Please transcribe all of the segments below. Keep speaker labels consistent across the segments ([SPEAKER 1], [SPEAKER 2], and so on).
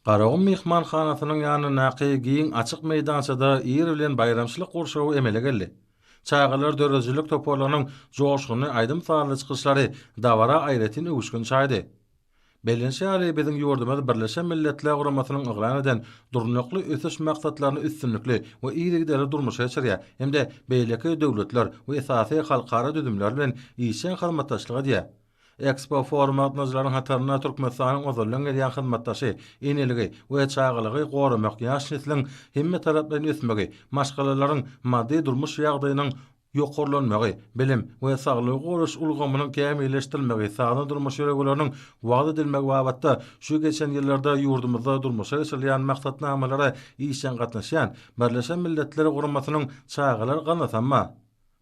[SPEAKER 1] Garagum myhmanhanasynyň ýanyndaky giň açyk meýdançada ir bilen baýramçylyk gurşawy emele geldi. Çagalar döredijilik toparlarynyň joşgunly aýdym-sazly çykyşlary dabara aýratyn öwüşgin çaýdy. Bellenşi ýaly, biziň ýurdumyz Birleşen Milletler Guramasynyň yglan eden Durnukly ösüş maksatlaryny üstünlikli we yzygiderli durmuşa geçirýär hem-de beýleki döwletler we esasy halkara düzümler bilen işjeň hyzmatdaşlyk edýär. Ekspo foruma gatnadyjylaryň hatarynda Türkmenistanyň ozaldan gelýän hyzmatdaşy, eneligi we çagalygy goramak, ýaş nesliň hemmetaraplaýyn ösmegi, maşgalalaryň maddy-durmuş ýagdaýynyň ýokarlanmagy, bilim we saglygy goraýyş ulgamynyň kämilleşdirilmegi, sazly durmuş ýörelgeleriniň wagyz edilmegi babatda şu geçen ýyllarda ýurdumyzda durmuşa geçirilýän maksatnamalara işjeň gatnaşýan Birleşen Milletler Guramasynyň Çagalar ganatamma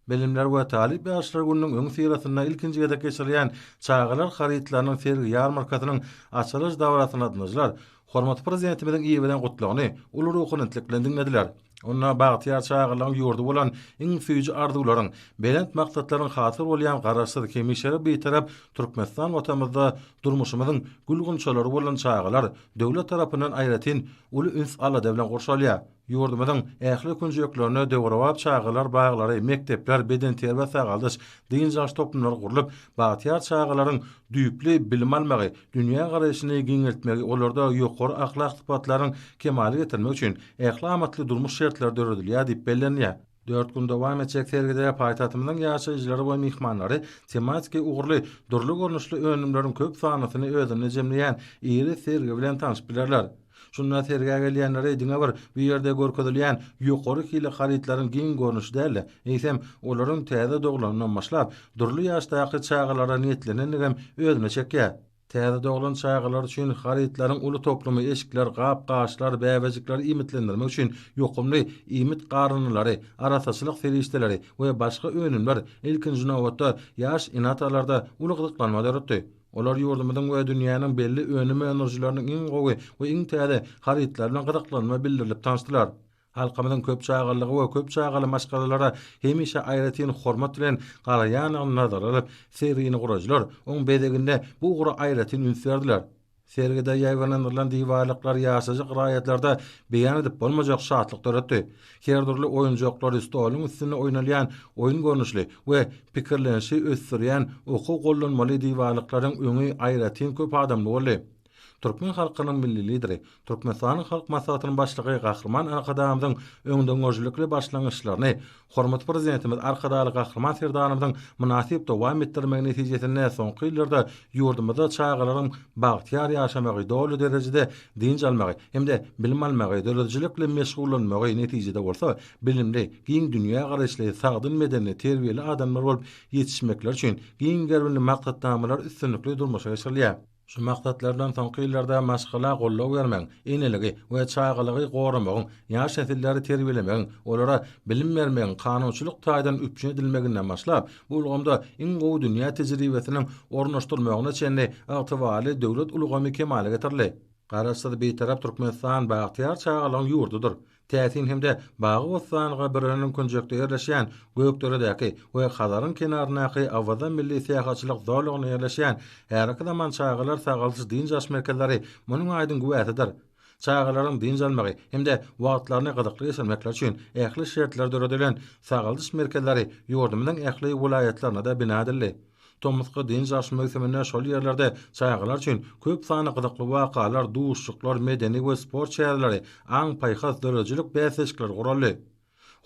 [SPEAKER 1] Bilimler we talyp ýaşlar gününiň öňüsyrasynda ilkinji gezek geçirilýän çagalar harytlarynyň sergi-ýarmarkasynyň açylyş dabarasynda gatnaşyjylar hormatly Prezidentimiziň iberen Gutlagyny uly ruhubelentlik bilen diňlediler. Onda bagtyýar çagalygyň ýurdy bolan iň süýji arzuwlaryň, belent maksatlaryň hasyl bolýan Garaşsyz, hemişelik Bitarap Türkmenistan Watanymyzda durmuşymyzyň gül-gunçalary bolan çagalar döwlet tarapyndan aýratyn uly üns-alada bilen gurşalýar. Ýurdumyzyň ähli künjeklerinde döwrebap çagalar baglary, mekdepler, bedenterbiýe-sagaldyş, dynç alyş toplumlary gurlup, bagtyýar çagalaryň düýpli bilim almagy, dünýägaraýşyny giňeltmegi, olarda ýokary ahlak sypatlaryň kemala getirmegi üçin ähli amatly durmuş şertleri döredilýär diýip bellenilýär. Dört gün dowam etjek sergide paýtagtymyzyň ýaşaýjylary we myhmanlary tematiki ugurly, dürli görnüşli önümleriň köp sanlysyny özünde jemleýän iri sergi bilen tanşyp bilerler. Şunda sergä gelýänleri diňe bir bu ýerde görkezilýän ýokary hili harytlaryň giň görnüşi däl-de, eýsem, olaryň täze doglanyndan başlap, dürli ýaşdaky çagalara niýetlenendigem özüne çekýär. Täze doglan çagalar üçin harytlaryň uly toplumy eşikler, gap-gaçlar, bäbejikleri iýmitlendirmek üçin ýokumly iýmit garynylary, arassaçylyk serişdeleri we başga önümler, ilkinji nobatda, ýaş ene-atalarda uly gyzyklanma döretdi. Olar ýurdumyzyň we dünýäniň belli önüm öndürijileriniň iň gowy we iň täze harytlary bilen gyzyklanma bildirilip tanyşdylar. Halkymyzyň köp çagalylyga we köp çagaly maşgalalara hemişe aýratyn hormat bilen garaýandygyny nazara alyp, sergini guraýjylar oň bezeginde bu ugra aýratyn üns berdiler. Sergide ýaýbaňlandyrylan diwarlyklar ýaşajyk raýatlarda beýan edip bolmajak şatlyk döretdi. Her dürli oýunjaklary, stoluň üstünde oýnalýan oýun görnüşli we pikirlenişi ösdürýän okuw-gollanmaly diwarlyklaryň öňi aýratyn köp adamly boldy. Türkmen halkynyň Milli Lideri, Türkmenistanyň Halk Maslahatynyň Başlygy Gahryman Arkadagymyzyň öňdengörüjilikli başlangyçlaryny hormatly Prezidentimiz Arkadagly Gahryman Serdarymyzyň mynasyp dowam etdirmegi netijesinde soňky ýyllarda ýurdumyzda çagalaryň bagtyýar ýaşamagy, doly derejede dynç almagy hem-de bilim almagy, döredijilikli meşgullanmagy, netijede bolsa, bilimli, giň dünýägaraýyşly, sagdyn bedenli, terbiýeli adamlar bolup ýetişmekleri üçin giň gerimli maksatnamalar üstünlikli durmuşa geçirilýär. Şu maksatlardan soňky ýyllarda maşgala goldaw bermegiň, eneligi we çagalygy goramagyň, ýaş nesilleri terbiýelemegiň, olara bilim bermegiň kanunçylyk taýdan üpjün edilmeginden başlap, bu ulgamda iň gowy dünýä tejribesiniň ornaşdyrylmagyna çenli ygtybarly döwlet ulgamy kemala getirildi. Garaşsyz Bitarap Türkmenistan bagtyýar çagalygyň ýurdudyr. Täsin hem-de bagy-bossanlyga bir önümkünjekde ýerleşýän Gökderedäki we Hazaryň kenaryndaky Awaza milli syýahatçylyk zolagynda ýerleşýän häzirki zaman çagalar sagaldyş-dynç alyş merkezleri munuň aýdyň güwäsidir. Çagalaryň dynç almagy hem-de wagtlaryny gyzykly geçirmekleri üçin ähli şertler döredilen sagaldyş merkezleri ýurdumyzyň ähli welaýatlarynda-da bina edildi. Tomusky dynç alyş möwsüminde şol ýerlerde çagalar üçin köp sanly gyzykly wakalar, duşuşyklar, medeni we sport çäreleri, aň-paýhas, döredijilik bäsleşikleri guraldy.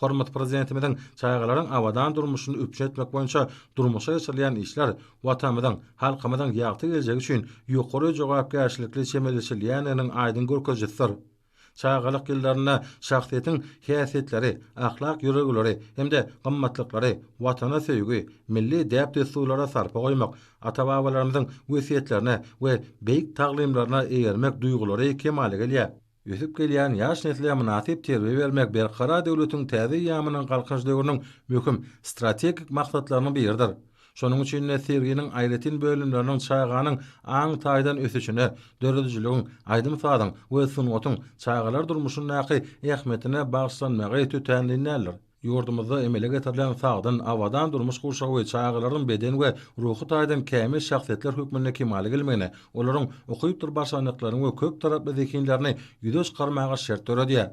[SPEAKER 1] Hormatly Prezidentimiziň çagalaryň abadan durmuşyny üpjün etmek boýunça durmuşa geçirilýän işler Watanymyzyň, halkymyzyň ýagty geljegi üçin ýokary jogapkärçilikli çemeleşilýändiginiň aýdyň görkezijisidir. Çagalyk ýyllarynda şahsyýetiň häsiýetleri, ahlak ýörelgeleri hem-de gymmatlyklary, Watana söýgi, milli däp-dessurlara sarpa goýmak, ata-babalarymyzyň wesýetlerine we beýik taglymlaryna eýermek duýgulary kemala gelýär. Ösüp gelýän ýaş nesle mynasyp terbiýe bermek Berkarar döwletiň täze eýýamynyň Galkynyş döwrüniň möhüm strategik maksatlarynyň biridir. Şonuň üçin-de serginiň aýratyn bölümleriniň çaganyň aň taýdan ösüşine, döredijiligiň, aýdym-sazyň we sungatyň çagalar durmuşyndaky ähmiýetine bagyşlanmagy tötänleýin däldir. Ýurdumyzda emele getirilen sagdyn, abadan durmuş gurşawy çagalaryň beden we ruhy taýdan kämil şahsyýetler hökmünde kemala gelmegine, olaryň ukypdyr başarnyklaryny we köp taraply zehinlerini ýüze çykarmaga şert döredýär.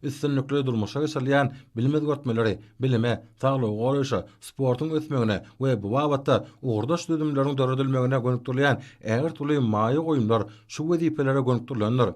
[SPEAKER 1] üstünlikli durmuşa geçirilýän bilim özgertmeleri bilime, saglygy goraýşa, sportuň ösmegine we bu babatda ugurdaş düzümleriň döredilmegine gönükdirilýän ägirt uly maýa goýumlar şu wezipelere gönükdirilendir.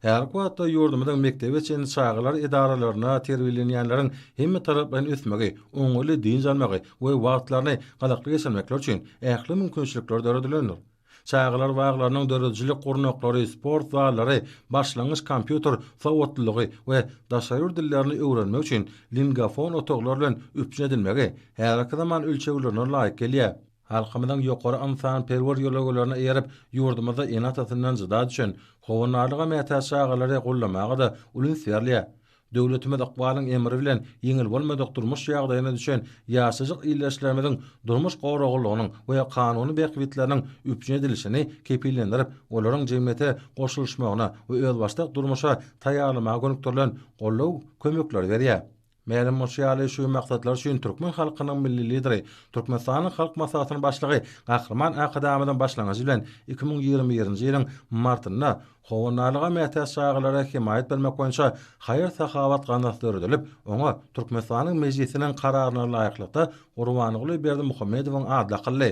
[SPEAKER 1] Häzirki wagtda ýurdumyzyň mekdebe çenli çagalar edaralarynda terbiýelenýänleriň hemmetaraplaýyn ösmegi, oňaýly dynç almagy we wagtlaryny gyzykly geçirmekleri üçin ähli mümkinçilikler döredilendir. Çagalar baglarynyň döredijilik gurnaklary, sport zallary, başlangyç kompýuter sowatlylygy we daşary ýurt dillerini öwrenmek üçin lingafon otaglar bilen üpjün edilmegi häzirki zaman ölçeglerine laýyk gelýär. Halkymyzyň ýokary ynsanperwer ýörelgelerine eýerip, ýurdumyzda ene-atasyndan jyda düşen, howandarlyga mätäç çagalary goldamaga-da uly üns berilýär. Döwletimiz ykbalyň emri bilen ýeňil bolmadyk durmuş ýagdaýyna düşen ýaşajyk ildeşlerimiziň durmuş goraglylygynyň we kanuny bähbitleriniň üpjün edilişini kepillendirip, olaryň jemgyýete goşulyşmagyna we özbaşdak durmuşa taýýarlamaga gönükdirilen goldaw kömekleri berýär. Mälim bolşy ýaly, şu maksatlar üçin türkmen halkynyň Milli Lideri, Türkmenistanyň Halk Maslahatynyň Başlygy Gahryman Arkadagymyzyň başlangyjy bilen iki müň ýigrimi birinji ýylyň martynda Howandarlyga mätäç çagalara hemaýat bermek boýunça haýyr-sahawat gaznasy döredilip, oňa Türkmenistanyň Mejlisiniň Kararyna laýyklykda Gurbanguly Berdimuhamedowyň ady dakyldy.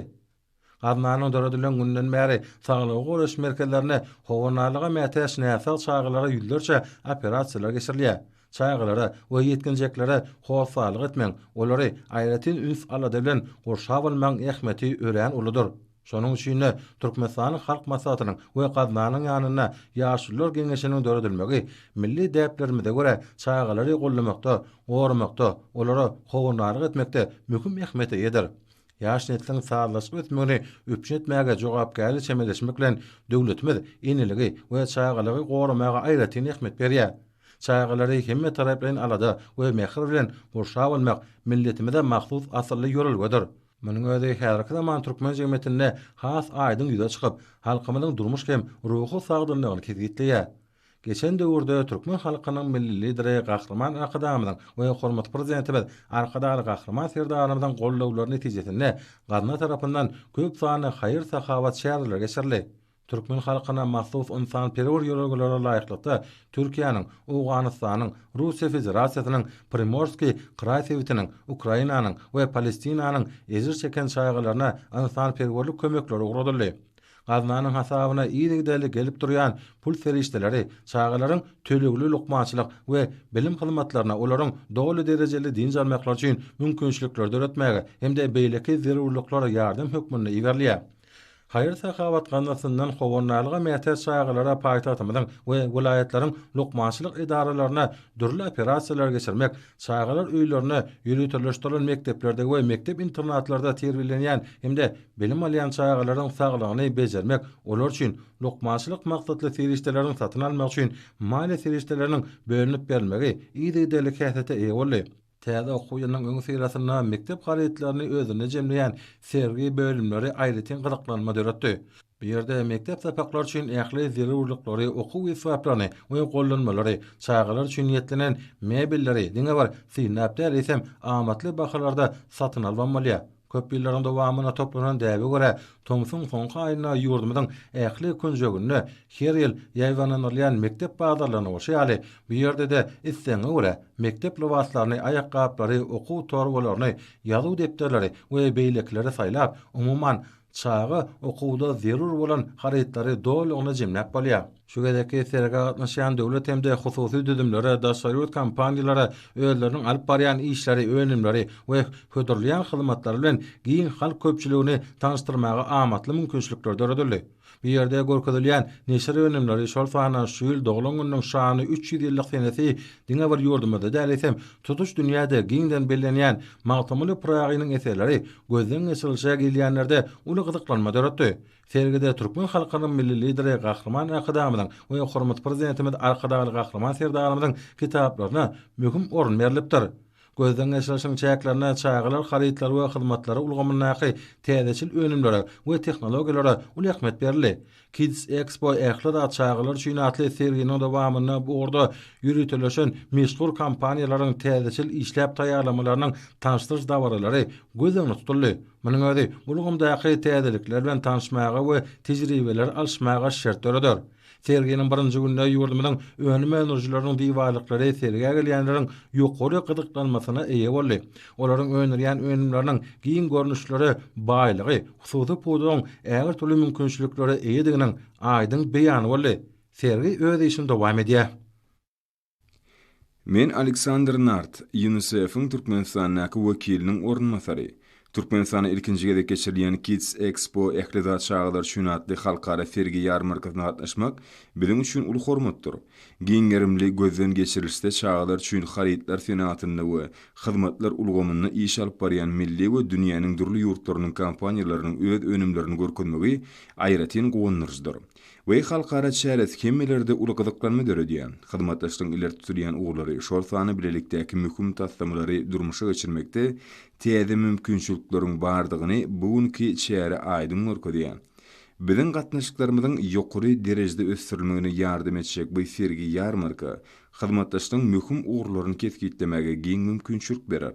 [SPEAKER 1] Gaznanyň döredilen gününden bäri saglygy goraýyş merkezlerinde howandarlyga mätäç näsag çagalara ýüzlerçe operasiýalar geçirilýär. Çagalara we ýetginjeklere hossarlyk etmegiň, olary aýratyn üns-alada bilen gurşap almagyň ähmiýeti örän uludyr. Şonuň üçin-de, Türkmenistanyň Halk Maslahatynyň we Gaznanyň ýanynda Ýaşulular geňeşiniň döredilmegi milli däplerimize görä çagalary goldamakda, goramakda, olara howandarlyk etmekde möhüm ähmiýete eýedir. Ýaş nesliň sazlaşyp ösmegini üpjün etmäge jogapkärli çemeleşmek bilen, döwletimiz eneligi we çagalygy goramaga aýratyn ähmiýet berýär. Çagalary hemmetaraplaýyn alada we mähir bilen gurşap almak milletimize mahsus asylly ýörelgedir. Munuň özi häzirki zaman türkmen jemgyýetinde has aýdyň ýüze çykyp, halkymyzyň durmuş hem ruhy sagdynlygyny kesgitleýär. Geçen döwürde türkmen halkynyň Milli Lideri Gahryman Arkadagymyzyň we hormatly Prezidentimiz Arkadagly Gahryman Serdarymyzyň goldawlary netijesinde gazna tarapyndan köp sanly haýyr-sahawat çäreleri geçirildi. Türkmen halkyna mahsus ynsanperwer ýörelgelere laýyklykda Türkiýäniň, Owganystanyň, Russiýa Federasiýasynyň Primorskiý kraý sebitiniň, Ukrainanyň we Palestinanyň ejir çeken çagalaryna ynsanperwerlik kömekleri ugradyldy. Gaznanyň hasabyna yzygiderli gelip durýan pul serişdeleri çagalaryň tölegli lukmançylyk we bilim hyzmatlaryna, olaryň doly derejeli dynç almaklary üçin mümkinçilikleri döretmäge hem-de beýleki zerurlyklara ýardam hökmünde iberilýär. Haýyr-sahawat gazynasyndan howandarlyga mätäç çagalara paýtagtymyzyň we welaýatlaryň lukmançylyk edaralaryna dürli operasiýalary geçirmek, çagalar öýlerine, ýöriteleşdirilen mekdeplerde we mekdep-internatlarda terbiýelenýän hem-de bilim alýan çagalaryň saglygyny bejermek, olar üçin lukmançylyk maksatly serişdeleriň satyn almak üçin maliýe serişdeleriniň bölünip berilmegi yzygiderli häsiýete eýe boldy. Täze okuw ýylynyň öňüsyrasynda mekdep harytlaryny özünde jemleýän sergi bölümleri aýratyn gyzyklanma döretdi. Bu ýerde mekdep sapaklary üçin ähli zerurlyklary, okuw esbaplaryny we gollanmalary, çagalar üçin niýetlenen mebelleri diňe bir synlap däl, eýsem, amatly bahalarda satyn alybam bolýar. Köp ýyllaryň dowamynda toplanan däbe görä, tomsuň soňky aýynda ýurdumyzyň ähli künjeginde her ýyl ýaýbaňlandyrylýan mekdep bazarlaryna bolşy ýaly, bu ýerde-de islegiňe görä, mekdep lybaslaryny, aýakgaplary, okuw torbalaryny, ýazuw depderleri we beýlekileri saýlap, umuman, çaga okuwda zerur bolan harytlary dolugyna jemläp bolýar. Şu gezekki sergä gatnaşýan döwlet hem-de hususy düzümlere, daşary ýurt kompaniýalara özleriniň alyp barýan işleri, önümleri we hödürleýän hyzmatlary bilen giň halk köpçüligini tanyşdyrmaga amatly mümkinçilikler döredildi. Bu ýerde görkezilýän neşir önümleri, şol sanda şu ýyl doglan gününiň şanly üç ýüz ýyllyk senesi diňe bir ýurdumyzda däl, eýsem, tutuş dünýäde giňden bellenýän Magtymguly Pyragynyň eserleri gözden geçirilişe gelýänlerde uly gyzyklanma döretdi. Sergide türkmen halkynyň Milli Lideri Gahryman Arkadagymyzyň we hormatly Prezidentimiz Arkadagly Gahryman Serdarymyzyň kitaplaryna möhüm orun berlipdir. Gözden geçirişiň çäklerinde çagalar harytlary we hyzmatlary ulgamyndaky täzeçil önümlere we tehnologiýalara uly ähmiýet berildi. Kids Expo Ähli zat çagalar üçin atly serginiň dowamynda bu ugurda ýöriteleşen meşhur kompaniýalaryň täzeçil işläp taýýarlamalarynyň tanyşdyryş dabaralary göz öňünde tutuldy. Munuň özi ulgamdaky täzelikler bilen tanyşmaga we tejribeleri alyşmaga şert döreder. Serginiň birinji gününde ýurdumyzyň önüm öndürijileriniň diwarlyklary sergä gelýänleriň ýokary gyzyklanmasyna eýe boldy. Olaryň öndürýän önümleriniň giň görnüşlere baýlygy hususy pudagyň ähli-türlü mümkinçiliklere eýediginiň aýdyň beýany boldy. Sergi öz işini dowam edýär.
[SPEAKER 2] Men Aleksandr Nart, UNICEF-iň Türkmenistandaky wekiliniň orunbasary. Türkmenistana ilkinji gezek geçirilýän Kids Expo Ähli zat çagalar üçin atly halkara sergi-ýarmarkasyna gatnaşmak biziň üçin uly hormatdyr. Giň gerimli gözden geçirilişde çagalar üçin harytlar senatynda we hyzmatlar ulgamynda iş alyp barýan milli we dünýäniň dürli ýurtlarynyň kompaniýalarynyň öz önümlerini görkezmegi aýratyn guwandyryjydyr. we halkara çäresi hemmelerde uly gyzyklanma döredýär. Hyzmatdaşlygyň ileri tutulýan ugurlary, şol sanda bilelikdäki möhüm taslamalary durmuşa geçirmekde täze mümkinçilikleriň bardygyny bu günki çäre aýdyň görkezýär. Biziň gatnaşyklarymyzyň ýokary derejede ösdürilmegine ýardam etjek bu sergi-ýarmarka hyzmatdaşlygyň möhüm ugurlaryny kesgitlemäge giň mümkinçilik berer.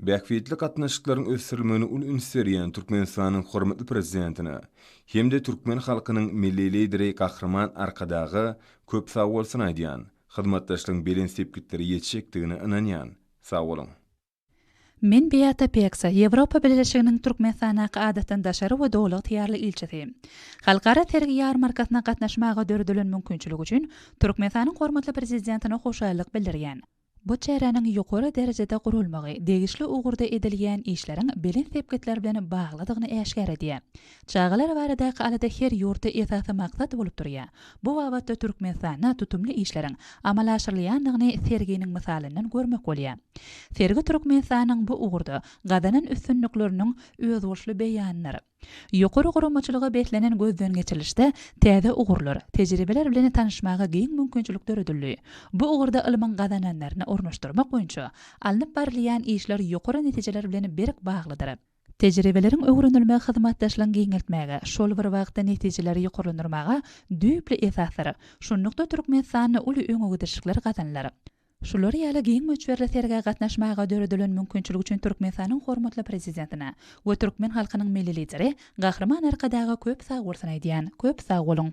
[SPEAKER 2] Bähbitli gatnaşyklaryň ösdürilmegine uly üns berýän Türkmenistanyň hormatly Prezidentine hem-de türkmen halkynyň Milli Lideri Gahryman Arkadaga köp sagbolsun aýdýan, hyzmatdaşlygyň belent sepgitlere ýetjekdigine ynanýan. Sagboluň! Men
[SPEAKER 3] Beata Peksa, Ýewropa Bileleşiginiň Türkmenistandaky Adatdan daşary we Doly ygtyýarly ilçisi. Halkara sergi-ýarmarkasyna gatnaşmaga döredilen mümkinçilik üçin Türkmenistanyň hormatly Prezidentine hoşallyk bildirýän. Bu çäräniň ýokary derejede guralmagy degişli ugurda edilýän işleriň belent sepgitler bilen baglydygyny äşgär edýär. Çagalar baradaky alada her ýurtda esasy maksat bolup durýar. Bu babatda Türkmenistanda tutumly işleriň amala aşyrylýandygyny serginiň mysalyndan görmek bolýar. Sergi Türkmenistanyň bu ugurda gazanan üstünlikleriniň özboluşly beýanydyr. Ýokary guramaçylyga beslenen gözden geçirilişde täze ugurlar, tejribeler bilen tanyşmaga giň mümkinçilik döredildi. Bu ugurda ylmyň gazananlaryny ornaşdyrmak boýunça alnyp barylýan işler ýokary netijeler bilen berk baglydyr. Tejribeleriň öwrenilmegi hyzmatdaşlygyň giňeltmäge, şol bir wagtda netijeleri ýokarlandyrmaga düýpli esasdyr. Şunlukda Türkmenistanda uly öňegidişlikler gazanylar. Şular ýaly giň möçberli sergä gatnaşmaga döredilen mümkinçilik üçin Türkmenistanyň hormatly Prezidentine we türkmen halkynyň Milli Lideri Gahryman Arkadaga köp sagbolsun aýdýan. Köp sag boluň!